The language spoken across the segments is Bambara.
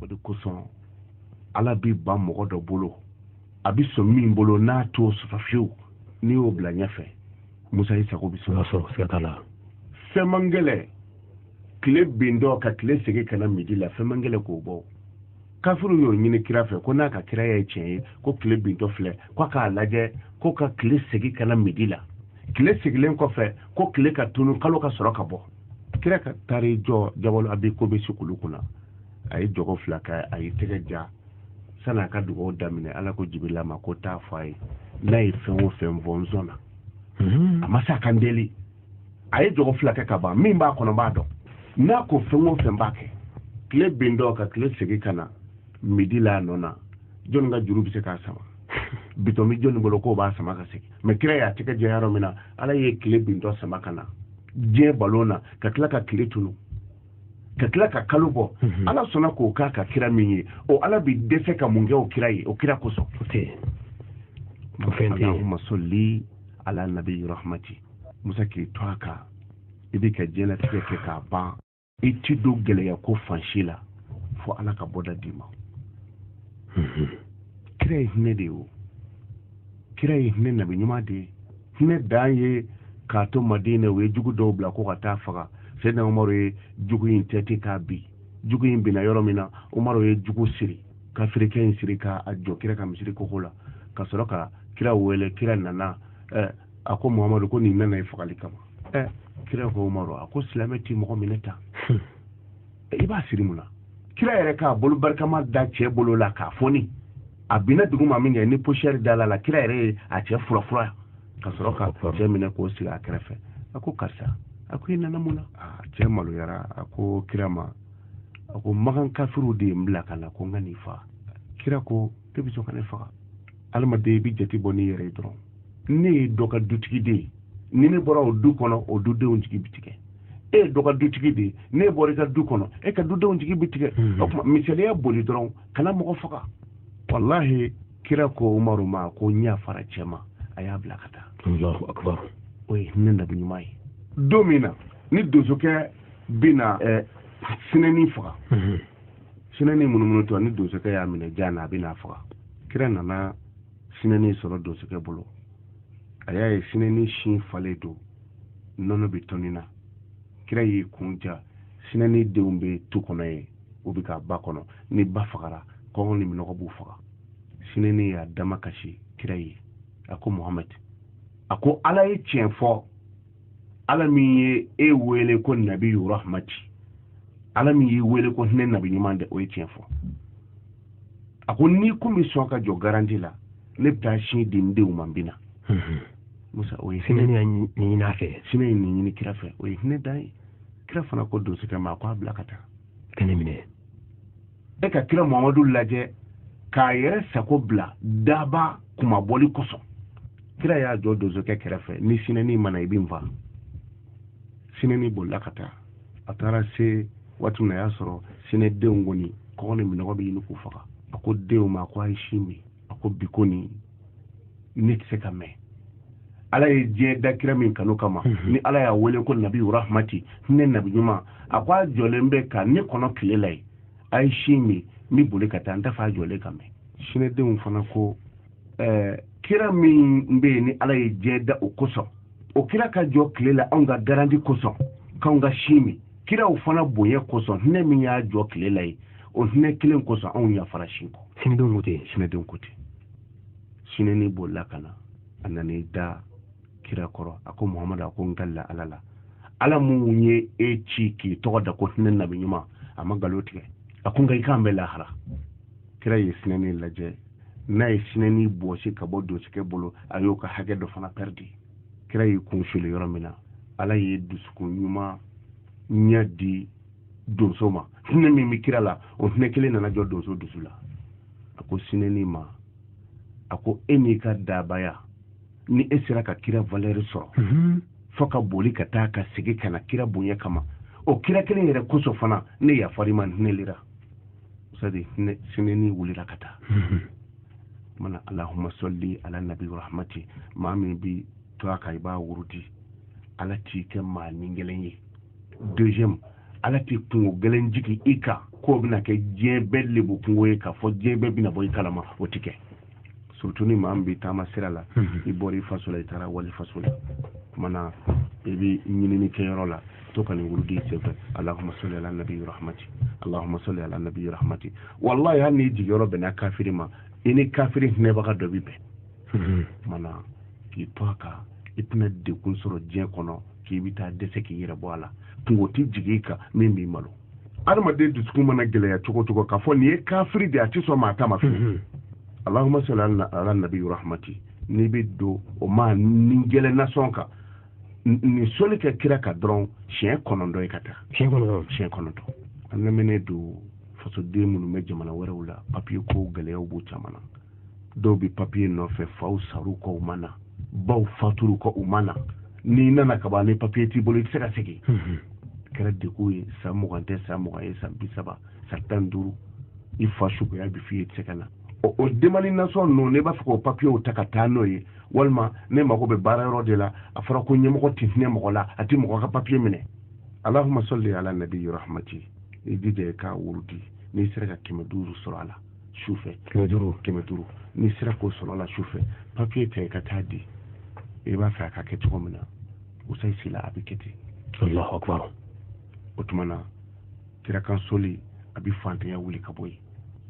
o de kosɔn ala bɛ ban mɔgɔ dɔ bolo a bɛ sɔn min bolo n'a t'o sɔsɔ fiyewu n'i y'o bila ɲɛfɛ musa i sago bɛ sɔrɔ siga t'a la fɛn man gɛlɛ tile bintɔ ka tile segin ka na midi la fɛn man gɛlɛ k'o bɔ kafiriw y'o ɲini kira fɛ ko n'a ka kira ye tiɲɛ ye ko tile bintɔ filɛ ko a k'a lajɛ ko ka tile segin ka na midi la tile segilen kɔfɛ ko tile ka tunu kalo ka sɔrɔ ka bɔ kira ka taari jɔ jabalu abi kubɛsi kulu kunna a ye jɔgo fila kɛ a ye tɛgɛ ja sani a ka dugawu daminɛ ala ko jibirila ma ko taa fɔ a ye n'a ye fɛn o fɛn fɔ n sɔnna hmm. a ma se ka n deli a ye jɔgo fila kɛ ka ban min b'a kɔnɔ n b'a dɔn n'a ko fɛn o fɛn n b'a kɛ tile bintɔ ka tile segin ka na midi la a nɔ na jɔnni ka juru bɛ se k'a sama bitɔn bɛ jɔnni bolo k'o b'a sama ka segin mɛ kira y'a tɛgɛ ja yɔrɔ min na ala ye tile bintɔ sama ka na diɲɛ balon na ka tila ka tile tunu ka tila ka kalo bɔ mhm. ala sɔnna k'o k'a ka kira min ye o ala bi dɛsɛ ka mun kɛ o kira ye o kira kosɔn allahuma sɔli ala nabi rahmati musa k'i to a kan i bɛ ka diɲɛlatigɛ kɛ k'a ban i ti don gɛlɛya ko fansi la fo ala ka bɔda d'i ma mhm. kira ye hinɛ de ye o kira ye hinɛ nabi ɲuman de ye hinɛ dan ye k'a to madina u ye jugu dɔw bila ko ka taa faga sɛdina umaru ye jugu in tɛti k'a bin jugu in binna yɔrɔ min na umaru ye jugu siri kafirikɛ in siri k'a jɔ kira ka misiri koko la ka sɔrɔ ka kira wele kira nana eh, a ko muhamadu ko nin nana ye fagali kama eh. kira ko umaru a ko silamɛ ti mɔgɔ minɛ tan hmm. i b'a siri mun na kira yɛrɛ k'a bolo barikama da cɛ bolo la k'a foni a binna dugu ma min kɛ ni posiyɛri dala a la kira yɛrɛ ye a cɛ furafura ka sɔrɔ ka cɛ minɛ k'o sigi a kɛrɛfɛ a ko karisa a ko i nana mun na ah, cɛ maloyara a ko kira ma a ko makan kafiriw de ye n bila ka na ko n ka n'i faa kira ko e bɛ sɔn ka ne faga adamaden i bɛ jate bɔ n'i yɛrɛ ye dɔrɔn ne ye dɔ ka dutigi de ye ni ne bɔra o du kɔnɔ o dudenw jigi bɛ tigɛ e ye dɔ ka dutigi de ye n'e bɔra i ka du kɔnɔ e ka dudenw jigi bɛ tigɛ hmm. o tuma misaliya boli dɔrɔn kana mɔgɔ faga walahi kira ko umaru ma ko n yafara cɛ ma a y'a bila ka taa o ye hinɛ nabi ɲuman ye don min na ni donsokɛ bɛna eh, sinɛni faga hmm. sinɛni munumunutɔ ni donsokɛ y'a minɛ jan na a bɛ n'a faga kira nana sinɛni sɔrɔ donsokɛ bolo a y'a ye sinɛni sin falen don nɔnɔ bɛ toni na kira y'i kun ja sinɛni denw bɛ tu kɔnɔ yen u bɛ ka ba kɔnɔ ni ba fagara kɔngɔ ni minɔgɔ b'u faga sinɛni y'a damakasi kira ye a ko muhamadi a ko ala ye tiɲɛ fɔ ala min ye e wele ko nabi rahmati ala min y'i wele ko hinɛ nabi ɲuman de o ye tiɲɛ fɔ a ko n'i kun bɛ sɔn ka jɔ garanti la ne bɛ taa sin di n denw ma n bɛ na mhm. musa o ye hinɛ ɲini a fɛ sinɛ ye nin ɲini kira fɛ o ye hinɛ dan ye kira fana ko donsokɛ ma a ko a bila ka taa ka ne minɛ e ka kira mamadu lajɛ k'a yɛrɛ sago bila daba kumabali kosɔn kira y'a jɔ donsokɛ kɛrɛfɛ ni sinɛni ma na i bɛ n faa sinɛni bolila ka taa a taara se waati min na a y'a sɔrɔ sinɛdenw kɔni kɔngɔ ni minɔgɔ bɛ ɲini k'u faga a ko denw ma ko a ye sin min a ko bi kɔni ne tɛ se ka mɛn ala ye diɲɛ da kira min kanu kama mhm. ni ala y'a wele ko nabi rahmati hinɛ nabi ɲuman a ko a jɔlen bɛ ka ne kɔnɔ tile la ye a ye sin min n bɛ boli ka taa n t'a fɛ a jɔlen ka mɛn sinɛdenw fana ko ɛɛ kira min bɛ yen ni ala ye diɲɛ da o kosɔn o kira ka jɔ tile la anw ka garanti kosɔn k'anw ka sin min kiraw fana bonya kosɔn hinɛ min y'a jɔ tile la ye o hinɛ kelen kosɔn anw yafara sin kɔ sinɛdenw ko ten sinɛdenw ko ten sinɛni bolila ka na a nan'i da kira kɔrɔ a ko muhamadu a ko n kalila ala la ala min ye e ci k'i tɔgɔ da ko hinɛ nabi ɲuman a ma nkalon tigɛ a ko nka i k'an bɛ lahara kira ye sinɛni lajɛ n'a ye sinɛni bɔsi ka bɔ donsokɛ bolo a y'o ka hakɛ dɔ fana pɛridi kira y'i kun suli yɔrɔ min na ala ye dusukun ɲuman ɲɛ di donso ma hinɛ min bɛ kira la o hinɛ kelen nana jɔ donso dusu la a ko sinɛni ma a ko e n'i ka dabaya ni e sera ka kira valeur sɔrɔ mhm. fo ka boli ka taa ka segin ka na kira bonya kama o kira kelen yɛrɛ kosɔn fana ne yafar'i ma hinɛlira sadi sinɛni wulila ka taa mhm. mana allahumma salli ala nabi rahmati maa min b'i to a kan i b'a wurudi ala t'i kɛ maa ni gɛlɛn ye deuxième ala tɛ kunko gɛlɛn jigi i kan k'o bɛna kɛ diɲɛ bɛɛ lebu kunko ye k'a fɔ diɲɛ bɛɛ bɛna bɔ i kalama o ti kɛ surtout ni maa min bɛ taama sira la mhm. i bɔra i faso la i taara wali faso la kumana i bɛ ɲinini kɛyɔrɔ la to ka nin wurudi sen fɛ allahumma salli ala nabi rahmati allahumma salli ala nabi rahmati wallahi hali n'i jigiyɔrɔ bɛnna kafiri ma i ni kafiri hinɛbaga dɔ bi bɛn mm-hmm. mana k'i to a kan i tɛna degun sɔrɔ diɲɛ kɔnɔ k'i bɛ taa dɛsɛ k'i yɛrɛ bɔ a la kunko tɛ jigin i kan min b'i malo adamaden dusukun mana gɛlɛya cogo cogo k'a fɔ nin ye kafiri de a tɛ sɔn maa ta ma fiyewu mm-hmm. allahumma salli ala nabi rahmati n'i bɛ don o maa ni gɛlɛn nasɔn kan nin sɔli kɛ kira kan dɔrɔn siɲɛ kɔnɔntɔn ye ka taa siɲɛ kɔnɔntɔn siɲɛ kɔnɔntɔn an lamɛnnen don fasoden minnu bɛ jamana wɛrɛw la papiye ko gɛlɛyaw b'u caman na dɔw bɛ papiye nɔfɛ faw sar'u kɔ u ma na baw fatur'u kɔ u ma na n'i nana ka ban ni papiye t'i bolo i tɛ se ka segin mhm. kɛra degun ye san mugan tɛ san mugan ye san bi saba san tan duuru i fa suguya bi f'i ye i tɛ se ka na o demani nasɔn ninnu ne b'a fɛ k'o papiyew ta ka taa n'o ye walima ne mago bɛ baara yɔrɔ de la a fɔra ko ɲɛmɔgɔ tɛ hinɛ mɔgɔ la a tɛ mɔgɔ ka papiye minɛ alahuma sɔli ala nabiyi rahamati i jija i k'a wurudi n'i sera ka kɛmɛ duuru sɔrɔ a la su fɛ kɛmɛ duuru kɛmɛ duuru n'i sera k'o sɔrɔ a la su fɛ papiye ta i ka taa di i b'a fɛ a ka kɛ cogo min na usayi sila a bɛ kɛ ten alahu akbar o tuma na kira kan sɔli a bɛ faantanya wuli ka bɔ yen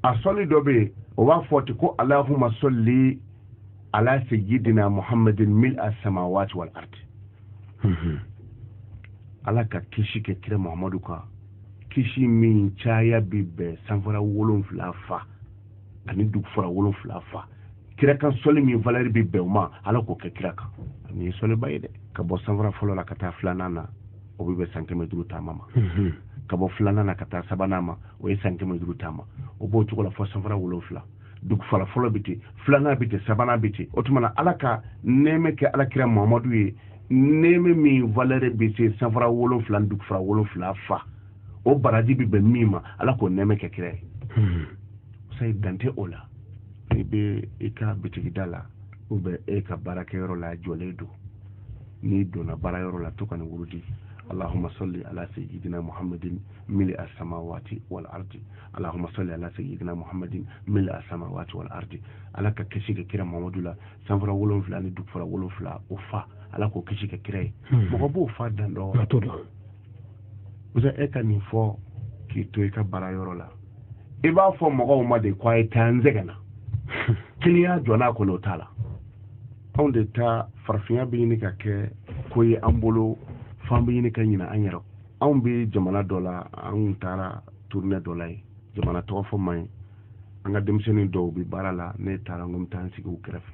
a sɔli dɔ bɛ yen o b'a fɔ ten ko alahuma sɔli ala sayyidina muhammadin mil a samawati wal ardi mhm. ala ka kisi kɛ kira muhammadu kan kisi min caya bi bɛn sanfara wolonfila fa ani dugufara wolonfila fa kira kan sɔli min valɛri bi bɛn o ma ala k'o kɛ kira kan nin ye sɔliba ye dɛ ka bɔ sanfara fɔlɔ la ka taa filanan na o bɛ bɛn san kɛmɛ duuru taama ma mhm. ka bɔ filanan na ka taa sabanan ma o ye san kɛmɛ duuru taama o b'o cogo la fo sanfara wolonfila dugufara fɔlɔ bɛ ten filanan bɛ ten sabanan bɛ ten o tuma na ala ka nɛɛmɛ kɛ ala kira mamadu ye nɛɛmɛ min valɛrɛ bɛ se sanfara wolonfila ni dugufara wolonfila fa o baraji bɛ bɛn min ma ala k'o nɛɛmɛ kɛ kira ye hmm. sayi dan tɛ o la i bɛ i ka bitigida la u bɛ e ka baarakɛyɔrɔ la jɔlen don n'i donna baarayɔrɔ la to ka nin wurudi allahumma salli ala sayyidina muhammadin mili as-samawati wal ardi allahuma salli ala sayidina muhammadin mil a samawati wal ardi ala ka kisi k'a kira mamadu la sanfara wolonfila ni dugufara wolonfila o fa ala k'o kisi k'a kira ye hmm. mɔgɔ b'o fa dan dɔn usa e ka nin fɔ k'i to i ka baara yɔrɔ la i b'a fɔ mɔgɔw ma de ko a ye taa n sɛgɛnna kiliyan jɔ n'a kɔnɔ o t'a la anw de ta farafinya bɛ ɲini ka kɛ ko ye an bolo f'an bɛ ɲini ka ɲina an yɛrɛ anw bɛ jamana dɔ la anw taara turunɛ dɔ la ye jamana tɔgɔ fɔ man ɲi an ka denmisɛnnin dɔw bɛ baara la ne taara n ko n bɛ taa n sigi u kɛrɛfɛ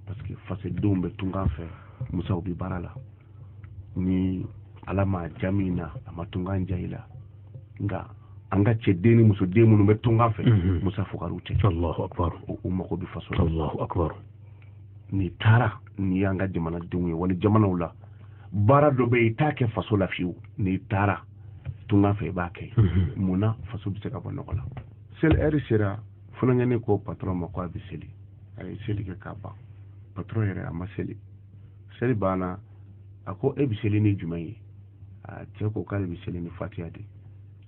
parce que fasodenw bɛ tunkan fɛ musow bɛ baara la ni ala ma ja min na a ma tunkan ja i la nka an ka cɛ den ni muso den minnu bɛ tunkan fɛ mhm. muso fugariw tɛ u mago bɛ faso la n'i taara n'i y'an ka jamanadenw ye wali jamanaw la baara dɔ bɛ yen i t'a kɛ faso la fiyewu n'i taara tunga fɛ i b'a kɛ mun na faso bɛ se ka bɔ nɔgɔ la seli ɛri sera funankɛnin ko patɔrɔn ma ko a bɛ seli a ye seli kɛ k'a ban patɔrɔn yɛrɛ a ma seli seli banna a ko e bɛ seli ni jumɛn ye a cɛ ko k'ale bɛ seli ni fatiya de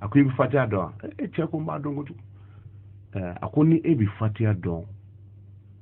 a ko i bɛ fatiya dɔn wa e cɛ ko n b'a dɔn kojugu a ko ni e bɛ fatiya dɔn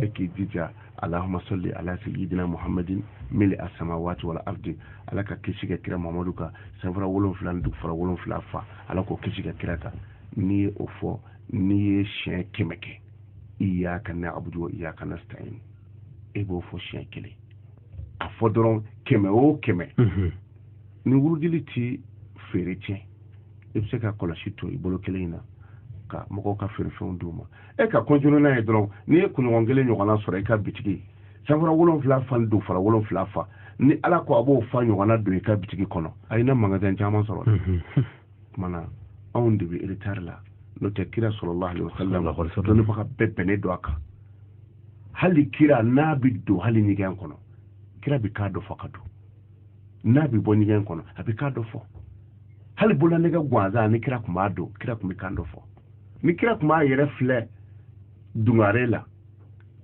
e k'i jija allahuma salli ala sayidina muhammadin mil'a samawati wal ardi ala ka kisi ka kira muhamadu kan sanfara wolonfila ni dugufara wolonfila fa ala k'o kisi ka kira kan n'i ye o fɔ n'i ye siɲɛ kɛmɛ kɛ iyaka na'budu wa iyaka nasta'in e b'o fɔ siɲɛ kelen a fɔ dɔrɔn kɛmɛ o kɛmɛ mhm. ni wurudili ti feere tiɲɛ i bɛ se ka kɔlɔsi to i bolo kelen in na ka mɔgɔw ka feerefɛnw d'u ma e ka continuer n'a ye dɔrɔn n'i ye kunɲɔgɔn kelen ɲɔgɔnna sɔrɔ i ka bitigi sanfara wolonfila fa ni dugufara wolonfila fa ni ala ko a b'o fa ɲɔgɔnna don i ka bitigi kɔnɔ ayi i na magasin caman sɔrɔ kumana anw de bɛ retard la n'o tɛ kira salalahu alayihi wa salam dɔnnibaga bɛɛ bɛnnen don a kan hali kira n'a bɛ don hali ɲɛgɛn kɔnɔ kira bɛ kan dɔ fɔ ka don n'a bɛ bɔ ɲɛgɛn kɔnɔ a bɛ kan dɔ fɔ hali bololanɛgɛ gansan ni kira tun b'a don kira tun bɛ kan dɔ fɔ ni kira tun b'a yɛrɛ filɛ dungare la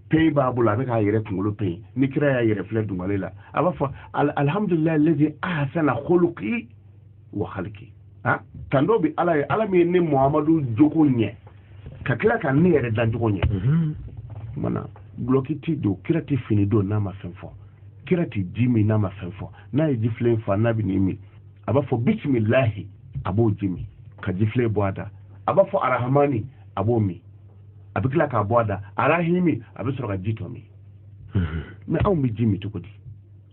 peyi b'a bolo a bɛ k'a yɛrɛ kunkolo peyi ni kira y'a yɛrɛ filɛ dungare la a b'a fɔ alihamudulilayi lazi ahasana huluki wa haliki ah, tando bɛ ala ye ala min ye ne muhamadu jogo ɲɛ ka tila ka ne yɛrɛ dancogo ɲɛ mhm. mana gulɔki ti don kira ti fini don n'a ma fɛn fɔ kira ti ji min n'a ma fɛn fɔ n'a ye jifilen fa n'a bɛ n'i min a b'a fɔ bisimilahi a b'o ji min ka jifilen bɔ a da a b'a fɔ arahamani a b'o min a bɛ tila k'a bɔ a da arahimi a bɛ sɔrɔ ka ji tɔ min mhm. mais anw bɛ ji min cogo di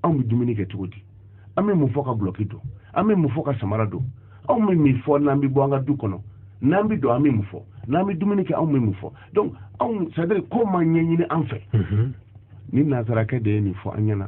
anw bɛ dumuni kɛ cogo di an bɛ mun fɔ ka gulɔki don an bɛ mun fɔ ka samara don anw bɛ mun fɔ n'an bɛ bɔ an ka du kɔnɔ n'an bɛ don an bɛ mun fɔ n'an bɛ dumuni kɛ anw bɛ mun fɔ donc anw c'est à dire ko ma ɲɛɲini an fɛ mhm. ni nansarakɛ de ye nin fɔ an ɲɛna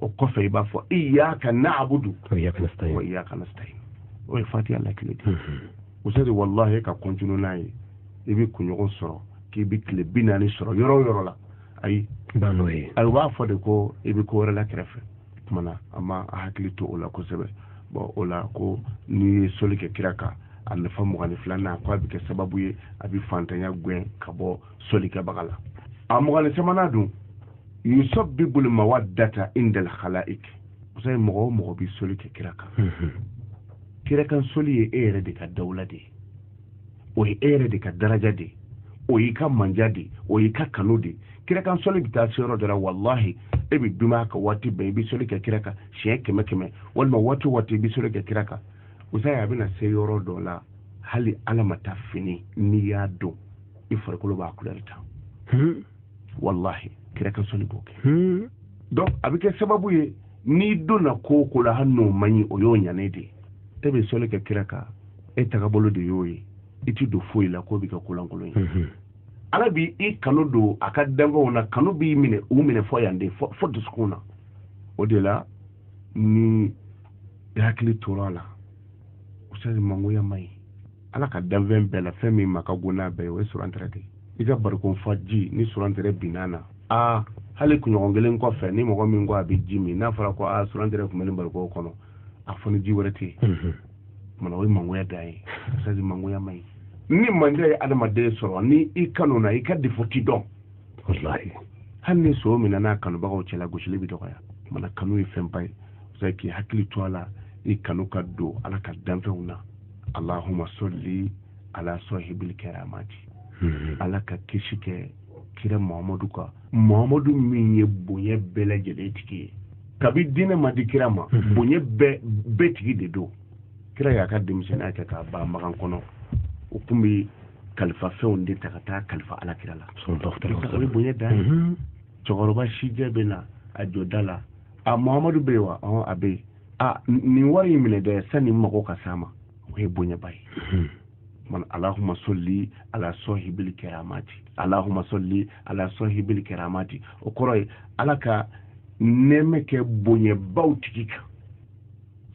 o kɔfɛ i b'a fɔ iyaka na'budu wa iyaka nasta'in o ye fatiha lakile de usadi wallahi ka continuer n'a ye i bɛ kunɲɔgɔn sɔrɔ k'i bɛ tile bi naani sɔrɔ yɔrɔ o yɔrɔ la ayi n'o ye ayi u b'a fɔ de ko i bɛ ko wɛrɛ la kɛrɛfɛ kumana an ma an hakili to o la kosɛbɛ bon o la ko n'i ye soli kɛ kira kan a nafa mugan ni filanan ko a bɛ kɛ sababu ye a bɛ fantanya gɛn ka bɔ solikɛbaga la a mugan ni sabanan dun yusabibu al mawadata indal khalaik usadi mɔgɔ o mɔgɔ bi soli kɛ kira kan mhm. kira kan soli ye e yɛrɛ de ka dawula de ye o ye e yɛrɛ de ka daraja de ye o y'i ka manja de ye o y'i ka kanu de ye kira kan soli bɛ taa se yɔrɔ dɔ la walahi e bɛ dumaya ka waati bɛɛ i bɛ soli kɛ kira kan siɲɛ kɛmɛ kɛmɛ walima waati waati i bɛ soli kɛ kira kan usadi a bɛna se yɔrɔ dɔ la hali ala ma taa fini n'i y'a dɔn i farikolo b'a kulɛri ta hmm. wallahi kira kan sɔli b'o kɛ hmm. donc a bɛ kɛ sababu ye n'i donna ko ko la hali n'o man ɲi o y'o ɲanen de ye e bɛ sɔli kɛ kira kan e tagabolo de y'o ye i ti don foyi la k'o bɛ kɛ ko lankolon ye hmm. ala bi i kanu don a ka danfɛnw na kanu b'i minɛ u minɛ fo yan de fo dusukun na o de la ni i hakili tora a la usadi mangoya man ɲi ala ka danfɛn bɛɛ la fɛn min ma ka go n'a bɛɛ ye o ye surantɛrɛ de i ka barikon fa ji ni surantɛrɛ binna na aa hali kunɲɔgɔn kelen kɔfɛ ni mɔgɔ min ko a bɛ ji min n'a fɔra ko aa surantɛrɛ tun bɛ nin barikon kɔnɔ a fɔ ni ji wɛrɛ tɛ yen mana o ye mangoya dan ye usadi mangoya man ɲi ni manja ye adamaden sɔrɔ ni i kanuna i ka defo ti dɔn hali ni son minɛn'a kanubagaw cɛla gosili bɛ dɔgɔya mana kanu ye fɛnba ye k'i hakili to a la i kanu ka don ala ka danfɛnw na alahuma sɔli ala sɔhibili kɛramati hmm. ala ka kisi kɛ kira muhamadu kan muhamadu min ye bonya bɛɛ lajɛlen tigi ye kabi diinɛ ma di kira ma hmm. bonya bɛɛ tigi de don kira y'a ka denmisɛnninya kɛ kaaba makan kɔnɔ u tun bɛ kalifa fɛnw de ta ka taa kalifa ala kira la o ye bonya dan ye hmm. cɛkɔrɔba sijɛ bɛ na a jɔ da la a muhamadu bɛ yen wa a bɛ yen a nin wari in minɛ dɛ sani mago ka s'a ma o ye bonyaba ye hmm. man alahuma sɔli ala sɔhibili kɛramati alahuma sɔli ala sɔhibili kɛramati o kɔrɔ ye ala ka nɛɛmɛ kɛ bonyabaw tigi kan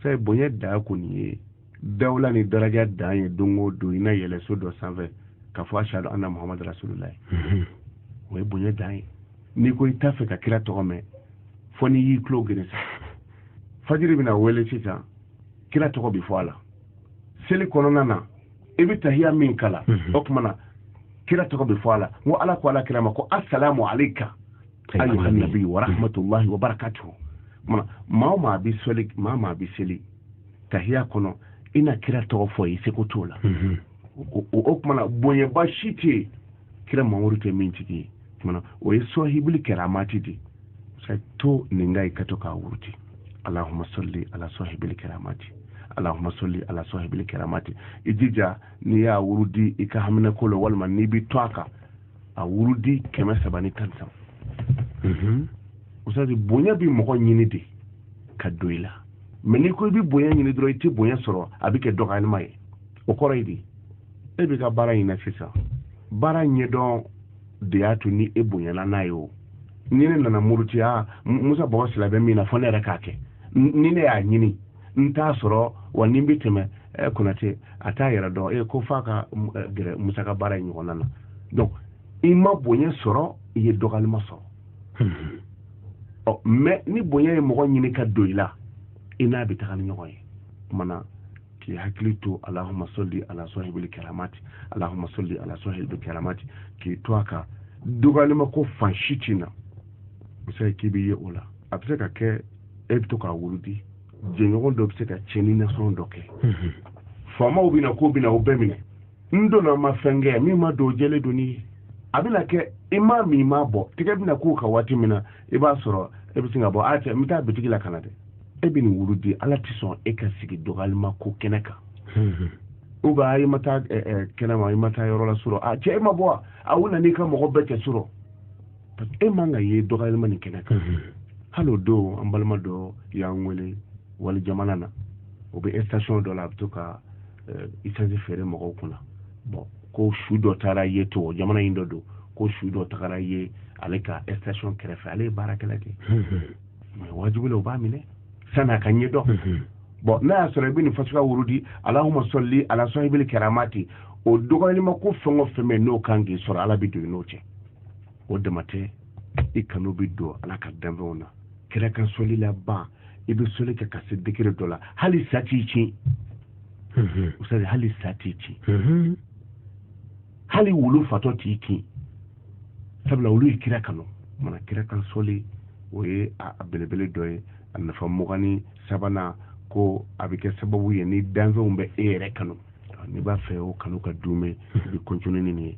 sa bonya dan kɔni ye dawla ni daraja dan ye don o don i na yɛlɛ so dɔ sanfɛ k'a fɔ ashadu anna muhamadu rasulula ye mhm. o ye bonya dan ye n'i ko i t'a fɛ ka kira tɔgɔ mɛn fo n'i y'i tulo geren sa fajiri bɛna wele sisan kira tɔgɔ bɛ fɔ a la seli kɔnɔna na i bɛ tahiya min kalan mhm. o tuma na kira tɔgɔ bɛ fɔ a la n ko ala ko ala kira ma ko asalamu aleyka ayyuha nabi wa rahmatullahi wa barakatuhu maa o maa bɛ seli maa maa bɛ seli tahiya kɔnɔ i na kira tɔgɔ fɔ ye seko t'o la mhm. o tumana bonyaba si tɛ yen kira mamadu tɛ min tigi ye tumana o ye sɔhibili kɛramati de sa to nin kan i ka to k'a wurudi alahuma sɔli ala sɔhibili kɛramati alahuma sɔli ala sɔhibili kɛramati i jija n'i y'a wurudi i ka haminako la walima n'i bɛ to a kan a wurudi kɛmɛ saba ni tan ni saba mhm. usadi bonya bɛ mɔgɔ ɲini de ka don i la mɛ n'i ko i bɛ bonya ɲini dɔrɔn i tɛ bonya sɔrɔ a bɛ kɛ dɔgɔyalima ye o kɔrɔ ye di e bɛ ka baara ɲini sisan baara ɲɛdɔn de y'a to ni e bonyana n'a ye o ni ne nana muruti musa bɔgɔ sila bɛ min na fɔ ne yɛrɛ k'a kɛ ni ne y'a ɲini n t'a sɔrɔ wa ni n bɛ tɛmɛ ɛ konate a t'a yɛrɛ dɔn e ko f'a ka gɛrɛ musa ka baara in ɲɔgɔnna na donc i ma bonya sɔrɔ i ye dɔgɔyalima sɔrɔ ɔ mɛ ni bonya ye mɔgɔ ɲini ka don i la i n'a bɛ taga ni ɲɔgɔn ye kumana k'i hakili to alahuma sɔli ala sɔhibili kɛramati alahuma sɔli ala sɔhibili kɛramati k'i to a kan dɔgɔyalima ko fan si ti na o se k'i bɛ ye o la a bɛ se ka kɛ e bɛ to k'a wurudi jɛɲɔgɔn dɔ bɛ se ka cɛni nasɔn dɔ kɛ faamaw bɛ na k'u bɛna o bɛɛ minɛ n donna ma fɛn kɛ min ma don jɛlen don ni a bɛna kɛ i ma min ma bɔ tigɛ bɛna k'u ka waati min na i b'a sɔrɔ e bɛ sin ka bɔ a cɛ n bɛ taa bitigi la ka na dɛ e bɛ nin wurudi ala tɛ sɔn e ka sigi dɔgɔyalima ko kɛnɛ kan ou bien i ma taa kɛnɛ ma i ma taa yɔrɔ la surɔ a cɛ e ma bɔ a u nana i ka mɔgɔ bɛɛ cɛ surɔ e man ka ye dɔgɔyalima nin kɛnɛ kan hali o don an balima dɔ y'an wele wali jamana na o bɛ station dɔ la a bɛ to ka eh, isansi feere mɔgɔw kunna bɔn ko su dɔ taara ye to jamana in dɔ don ko su dɔ tagara ye ale ka station kɛrɛfɛ ale ye baarakɛla de mɛ wajibi la u b'a minɛ sani a ka ɲɛ dɔn bɔn n'a y'a sɔrɔ i bɛ nin fasuka wurudi alahuma sɔli ala sɔhibili kɛramati o dɔgɔyalima ko fɛn o fɛn bɛ n'o kan k'i sɔrɔ ala bɛ don i n'o cɛ o dama tɛ i kanu bɛ don ala ka danfɛnw na kira kan sɔli la ban i bɛ sɔli kɛ ka se degere dɔ la hali sa t'i kin mhm. usadi hali sa t'i kin mhm. hali wulu fatɔ t'i kin sabula olu ye kira kanu mana kira kan sɔli o ye a belebele dɔ ye a nafa mugan ni sabanan ko a bɛ kɛ sababu ye ni danfɛnw bɛ e yɛrɛ kanu n'i b'a fɛ o kanu ka duumɛ i bɛ kɔntini nin ye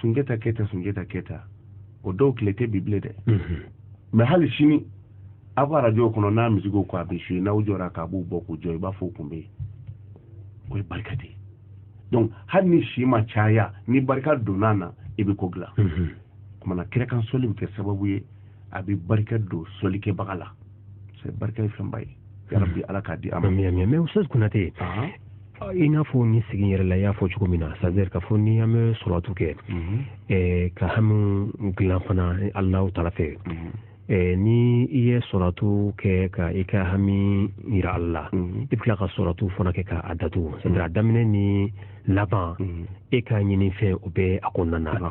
sunjata keta sunjata keta o dɔw tile tɛ bi bilen dɛ mhm. mɛ hali sini aw ka arajo kɔnɔ n'a misiki ko a bɛ zuye n'aw jɔra k'a b'u bɔ k'u jɔ i b'a fɔ o kun bɛ yen o ye barika de ye donc hali ni si ma caya ni barika donna na i bɛ ko dilan mhm. kumana kira kan sɔli bɛ kɛ sababu ye a bɛ barika don sɔlikɛbaga la c'est barika ye fɛnba ye yarabi ala k'a di an ma mais mais ustaz konate i n'a fɔ ni sigi yɛrɛ la i y'a fɔ cogo min na c'est à dire k'a fɔ ni an bɛ sɔlatu kɛ mhm. ka hami dilan fana alahu taala fɛ mhm. Eh, ni i ye sɔlatu kɛ ka i ka hami yira ala la mhm. i bɛ tila ka sɔlatu fana kɛ k'a datugu c'est à dire a daminɛ ni laban e ka ɲinifɛn o bɛ a kɔnɔna na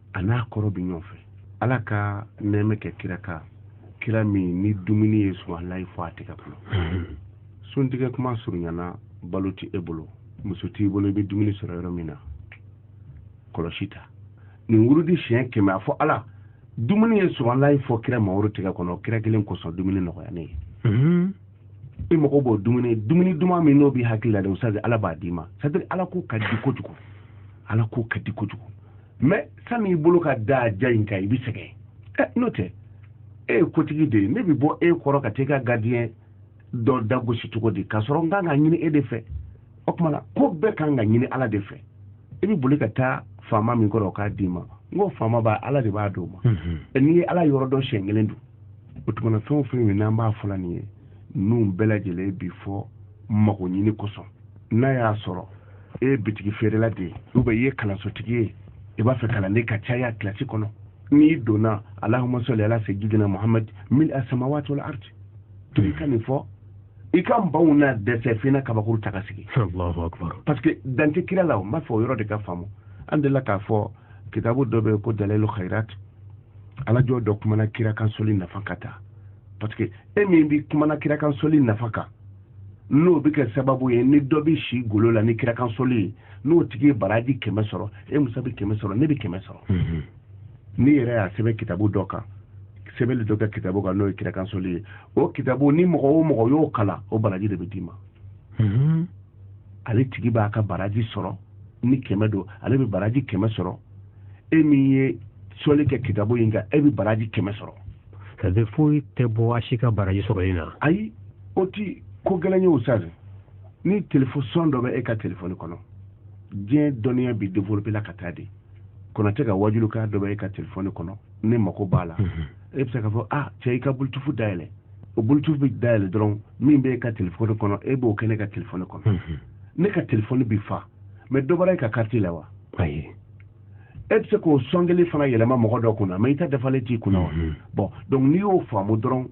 a n'a kɔrɔ bɛ ɲɔgɔn fɛ ala ka nɛɛmɛ kɛ kira kan kira min ni dumuni ye subahanalayi fɔ a tigɛ kɔnɔ hmm. suntigɛ kuma surunyana balo tɛ e bolo muso t'i bolo i bɛ dumuni sɔrɔ yɔrɔ min na kɔlɔsi ta nin wurudi siɲɛ kɛmɛ a fɔ ala dumuni ye subahanalayi fɔ kira mamadu tigɛ kɔnɔ kira kelen kosɔn dumuni nɔgɔya ne ye hmm. i mago b'o dumuni dumuni duman min n'o b'i hakili la dɛ ustaz ala b'a d'i ma c'est à dire ala ko ka di kojugu ala ko ka di kojugu mais sani i bolo ka da ja in kan i bɛ sɛgɛn ɛ n'o tɛ e ye kotigi de ye ne bɛ bɔ e kɔrɔ ka taa i ka gardien dɔ da gosi cogo di k'a sɔrɔ n kan ka ɲini e de fɛ o tuma na ko bɛɛ kan ka ɲini ala de fɛ i bɛ boli ka taa faama min kɔrɔ o k'a d'i ma n ko faama b'a ala de b'a d'o ma n'i ye ala yɔrɔ dɔn siɲɛ kelen dɔrɔn o tuma na fɛn o fɛn min n'an b'a fɔla nin ye ninnu bɛɛ lajɛlen bi fɔ mago ɲini kosɔn n'a y'a sɔrɔ e ye bitigi feerela de ye ou bien i ye kalansotigi ye i b'a fɛ kalanden ka caya kilasi kɔnɔ n'i donna alahuma sɔli ala seyidina muhamadi mil asamawati wal ardi to i ka nin fɔ i ka banw na dɛsɛ f'i na kabakuru ta ka sigi parce que dan tɛ kira la n b'a fɔ o yɔrɔ de ka faamu an delila k'a fɔ kitabu dɔ bɛ ko dalilu khairat ala jɔn dɔ kumana kira kan soli nafa ka taa parce que e min bɛ kumana kirakansoli nafa kan n'o bɛ kɛ sababu ye ni dɔ bɛ si golo la ni kirakansoli ye n'o tigi ye baraji kɛmɛ sɔrɔ e musa bɛ kɛmɛ sɔrɔ ne bɛ kɛmɛ sɔrɔ mhm. n'i yɛrɛ y'a sɛbɛn kitabu dɔ kan sɛbɛnni dɔ kɛ kitabu kan n'o ye kirakansoli ye o kitabu ni mɔgɔ o mɔgɔ y'o kalan o baraji de bɛ d'i ma mhm. ale tigi b'a ka baraji sɔrɔ ni kɛmɛ don ale bɛ baraji kɛmɛ sɔrɔ e min ye soli kɛ kitabu in kan e bɛ baraji kɛmɛ sɔrɔ c'est à dire foyi tɛ bɔ a si ka baraji sɔrɔli na ayi o ti ko gɛlɛn ye ustaz ni telefɔn son dɔ bɛ e ka telefɔni kɔnɔ diɲɛ dɔnniya bi développer la ka taa de konate ka wajulikan dɔ bɛ e ka telefɔni kɔnɔ ne mako b'a la mhm. e bɛ se k'a fɔ ah cɛ i ka bluetooth dayɛlɛ o bluetooth bɛ dayɛlɛ dɔrɔn min bɛ e ka telefɔni kɔnɔ e b'o kɛ ne ka telefɔni kɔnɔ mhm. ne ka telefɔni bi fa mais dɔ bɔra e ka kariti la wa ayi e bɛ se k'o sɔn kelen fana yɛlɛma mɔgɔ dɔ kunna mais i ta dafalen t'i kunna wa mhm. bon donc n'i y'o faamu dɔrɔn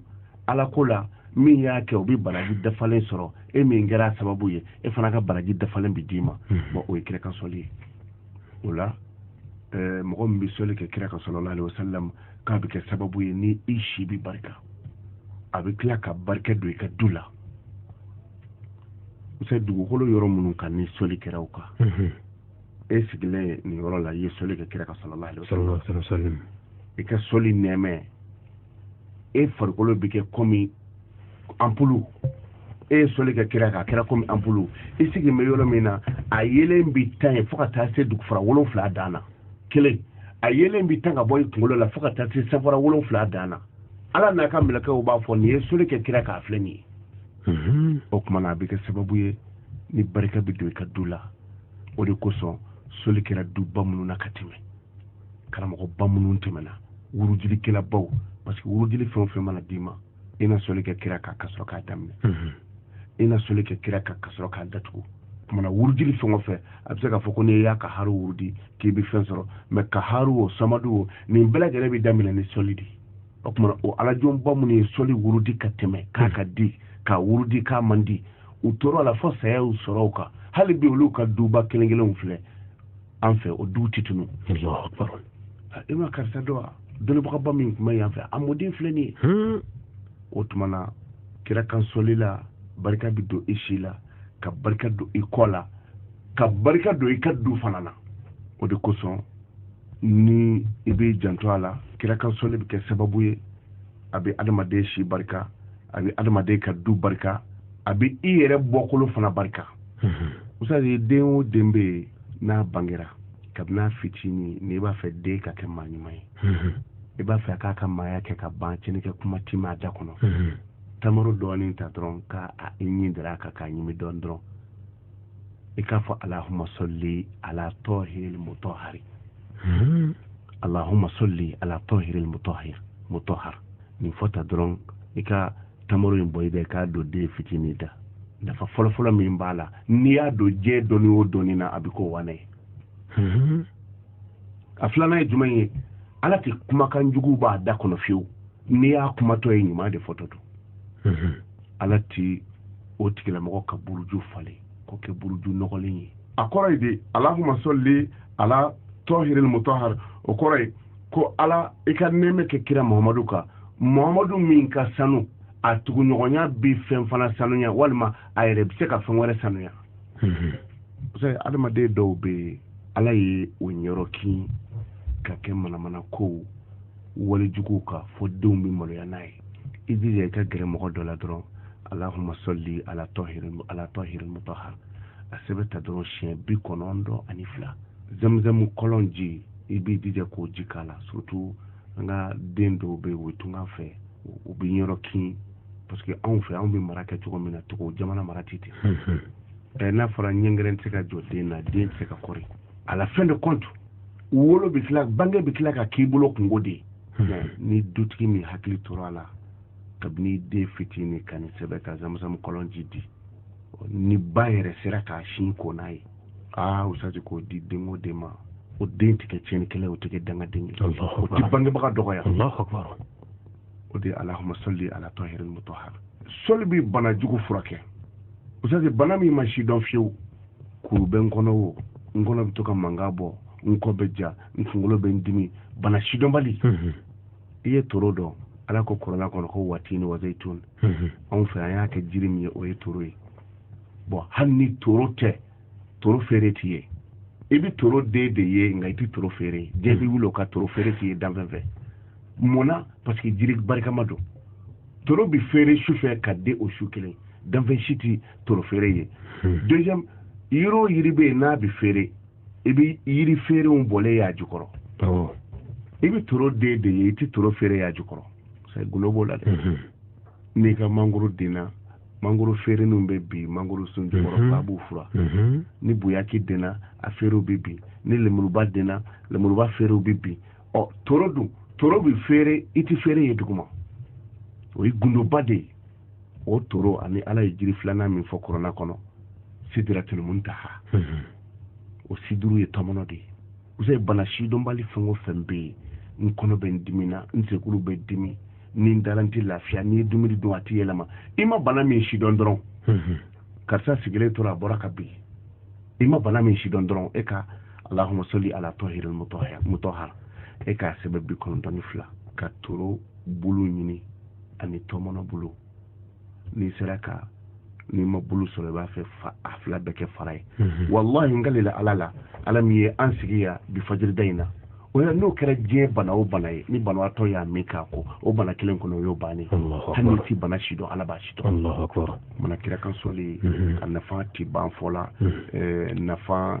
ala ko la min y'a kɛ o bɛ baraji dafalen sɔrɔ e min kɛra sababu ye e fana ka baraji dafalen bɛ d'i ma mhm. bon o ye kira kan sɔli ye o la eh, mɔgɔ min bɛ sɔli kɛ kira kan sallallahu alayhi wa sallam k'a bɛ kɛ sababu ye ni i si bɛ barika a bɛ tila ka barika don i ka du la u sɛ dugukolo yɔrɔ minnu kan ni sɔli kɛra u kan mhm. e sigilen nin yɔrɔ la i ye sɔli kɛ kira kan sallallahu alaihi wasallam i ka sɔli nɛɛma e farikolo bɛ kɛ kɔmi anpulu e ye sɔli kɛ kira kan a kɛra kɔmi anpulu i sigi bɛ yɔrɔ min na a yeelen bi tan ye fo ka taa se dugufara wolonwula dan na kelen a yeelen bi tan ka bɔ i kunkolo la fo ka taa se sanfara wolonwula dan na ala n'a ka mɛlɛkɛw b'a fɔ nin ye sɔli kɛ kira kan a filɛ nin ye o tuma na a bɛ kɛ sababu ye ni barika bɛ don i ka du la o de kosɔn sɔli kɛra duba minnu na ka tɛmɛ karamɔgɔba minnu tɛmɛna wurujilikɛlabaw parce que wurujili fɛn o fɛn mana d'i ma i na sɔli kɛ kira kan ka sɔrɔ k'a daminɛ mhm. i na sɔli kɛ kira kan ka sɔrɔ k'a datugu o tuma na wurudili fɛn o fɛn a bɛ se k'a fɔ ko n'i ya kaharu wurudi k'i bɛ fɛn sɔrɔ mais kaharu o samadu o nin bɛɛ lajɛlen bɛ daminɛ ni sɔli de o tuma na o alajɔnba minnu ye sɔli wurudi ka tɛmɛ k'a ka di k'a wurudi k'a man di u tora a la fo saya y'u sɔrɔ o kan hali bi olu ka duba kelen kelenw filɛ an fɛ o duw tɛ tunu i ma karisa dɔn wa dɔnnibagaba min tun bɛ yan fɛ a mɔden filɛ nin ye hmm. o tuma na kira kan sɔli la barika bɛ don i si la ka barika don i kɔ la ka barika don i ka du fana na o de kosɔn ni i bɛ janto a la kira kan sɔli bɛ kɛ sababu ye a bɛ adamaden si barika a bɛ adamaden ka du barika a bɛ i yɛrɛ bɔkolo fana barika usutazi den o den bɛ yen n'a bangera kabini a fitinin n'i b'a fɛ den ka kɛ maa ɲuman ye i b'a fɛ k'a ka maaya kɛ ka ban cɛnni kɛ kuma ti m'a da kɔnɔ tamaro dɔɔnin ta dɔrɔn ka i ɲin dara a kan k'a ɲimi dɔɔnin dɔrɔn i k'a fɔ alahuma sɔli ala tɔhiril mutɔhari hmm. alahuma sɔli ala tɔhiril mutɔhir mutɔhar nin fɔ tan dɔrɔn i ka tamaro in bɔ i bɛ k'a don den fitinin da nafa fɔlɔfɔlɔ min b'a la n'i y'a don diɲɛ dɔnni o dɔnni na a bɛ k'o waane ye hmm. a filanan ye jumɛn ye ala tɛ kumakan jugu b'a da kɔnɔ fiyewu n'i y'a kumatɔ ye ɲuman de fɔtɔ don hmm. ala tɛ o tigilamɔgɔ ka buruju falen k'o kɛ buruju nɔgɔlen ye a kɔrɔ ye de alahuma sɔli ala tɔhiril mutahar o kɔrɔ ye ko ala i ka nɛɛmɛ kɛ kira muhamadu kan muhamadu min ka sanu a tuguɲɔgɔnya bɛ fɛn fana sanuya walima a yɛrɛ bɛ se ka fɛn wɛrɛ sanuya adamaden dɔw bɛ ala ye o ɲɛɔrɔ kin ka kɛ manamana kow wali juguw ka fo denw bɛ maloya n'a ye i jija i ka gɛrɛ mɔgɔ dɔ la dɔrɔn alahuma sɔli ala tɔhiril mutahar a sɛbɛn ta dɔrɔn siɲɛ bi kɔnɔntɔn ani fila zamzamu kɔlɔn ji i b'i jija k'o ji k'a la surtout an ka den dɔw bɛ yen o tunga fɛ u bɛ yɔrɔ kin parce que anw fɛ anw bɛ mara kɛ cogo min na togo jamana mara tɛ ten hmm, hmm. n'a fɔra ɲɛngɛrɛn tɛ se ka jɔ den na den tɛ se ka kɔri à la fin de compte wolo bɛ tila bange bɛ tila ka k'i bolo kunko de ye hmm. ni dutigi min hakili tora a la kabini den fitinin ka nin sɛbɛn ka zamuzamu kɔlɔnji di ni ba yɛrɛ sera k'a sin ko n'a ye aa ustazi k'o di den o den ma o den tɛ kɛ tiɲɛnikɛla o tɛ kɛ dangaden ye o tɛ bangebaga dɔgɔya o de ye alahuma sɔli ala tɔhiri mutahara sɔli bɛ bana jugu furakɛ ustazi bana min ma sidɔn fiyewu kuru bɛ n kɔnɔ o n kɔnɔ bɛ to ka mankan bɔ n kɔ bɛ ja n kunkolo bɛ n dimi bana sidɔnbali mhm. i ye toro dɔn ala ko kɔrɔna kɔnɔ ko watini wa zayitun mhm. anw fɛ an y'a kɛ jiri min ye o ye toro ye bon hali ni toro tɛ toro feere tɛ ye i bɛ toro den de ye nka i tɛ toro feere diɲɛ bɛ wuli o ka toro feere tɛ ye danfɛn fɛ mun na parce que jiri barikama don toro bɛ feere su fɛ ka den o su kelen danfɛn si tɛ toro feere ye hmm. deuxième yiri o yiri bɛ yen n'a bɛ feere i bɛ yiri feerenw bɔlen y'a jukɔrɔ i bɛ toro den de ye i tɛ toro feere y'a jukɔrɔ c'est gundo b'o la dɛ hmm. n'i ka mangoro denna mangoro feereninw bɛ bin mangoro sun jukɔrɔ hmm. ba b'u furan ni boyaki denna a feerew bɛ bin ni lemuruba denna lemuruba feerew bɛ bin ɔ toro dun toro bɛ feere i tɛ feere ye duguma o ye gundoba de ye o toro ani ala ye jiri filanan min fɔ kɔrɔna kɔnɔ sidiratul muntaha mhm. o siduru ye tɔmɔnɔ de ye usa bana sidɔnbali fɛn o fɛn bɛ yen n kɔnɔ bɛ n dimi na n senkuru bɛ dimi ni n dara n tɛ lafiya n'i ye dumuni dun a tɛ yɛlɛma i ma bana min sidɔn dɔrɔn mhm. karisa sigilen tora a bɔra ka bin i ma bana min sidɔn dɔrɔn e ka alahuma sɔli ala tɔhiril mutɔhara e k'a sɛbɛn bi kɔnɔntɔn ni fila ka toro bulu ɲini ani tɔmɔnɔ bulu n'i sera ka n'i ma bulu sɔrɔ i b'a fɛ a fila bɛɛ kɛ fara ye mhm. walahi n kalila ala la ala min ye an sigi yan bi fajirida in na o la n'o kɛra diɲɛ bana o bana ye ni banabaatɔ y'a min ka ko o bana kelen kɔnɔ o y'o bannen hali n'i ti bana si dɔn ala b'a si dɔn mana kira kan sɔli mhm. a nafa ti ban fɔ la mhm. eh, nafa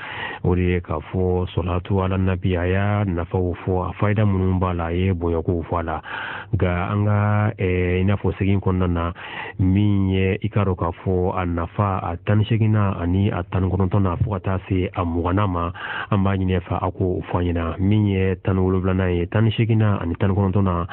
o de ye k'a fɔ sɔlatu ala nabi a y'a nafaw fɔ a fayida minnu b'a la a ye bɔyɔrɔkow fɔ a la nka an ka i n'a fɔ sigi kɔnɔna na min ye i k'a dɔn k'a fɔ a nafa a tan ni seginnan ani a tan ni kɔnɔntɔnnan fo ka taa se a mugannan ma an b'a ɲini a fɛ a k'o fɔ an ɲɛna min ye tan ni wolonwulanan ye tan ni seginnan ani tan ni kɔnɔntɔnnan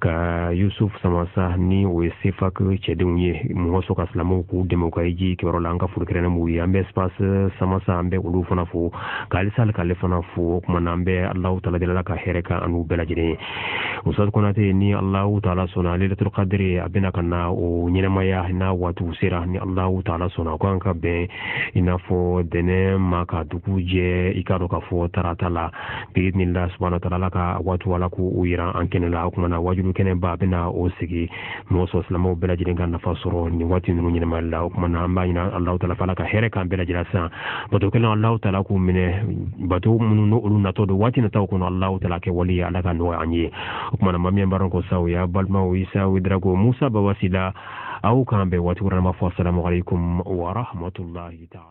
ka yusuf samasa ni o ye sefa cɛdenw ye mɔgɔ sɔn ka silamɛw k'u dɛmɛ ka hiji kɛyɔrɔ la an ka foli kɛrɛn b'u ye an bɛ espace samasa an bɛ olu fana fo k'alisa hali k'ale fana fo o tuma na an bɛ alahu taala deli la ka hɛrɛ k'an n'u bɛɛ lajɛlen ye usitazi konate ni alahu taala sɔnna layilatul kadiri a bɛna ka na o ɲɛnamaya n'a waatiw sera ni alahu taala sɔnna a ko an ka bɛn i n'a fɔ dɛnɛ ma ka dugu jɛ i k'a dɔn k'a fɔ tarata la biizinilahi subahanahu wa taala ala ka waati ala k'u jira an kɛnɛ la o tuma na wajuli kɛnɛba bɛna o sigi mɔgɔ sɔrɔ silamɛw bɛɛ lajɛlen ka nafa sɔrɔ nin waati ninnu ɲɛnamaya la o tuma na an b'a ɲini alahu taala fɛ ala ka hɛrɛ k'an bɛɛ lajɛlen san bato kɛlenw alahu taala k'u minɛ bato minnu n'o olu natɔ don waati nataw kɔnɔ alahu taala kɛ wali ye ala k'a nɔgɔya an ye o tuma na mamiyan baara ko saw y'a balimaw isa wedrago musa baba sila aw k'an bɛn waati wɛrɛ ma fɔ salamu alaikum wa rahmatulahi taala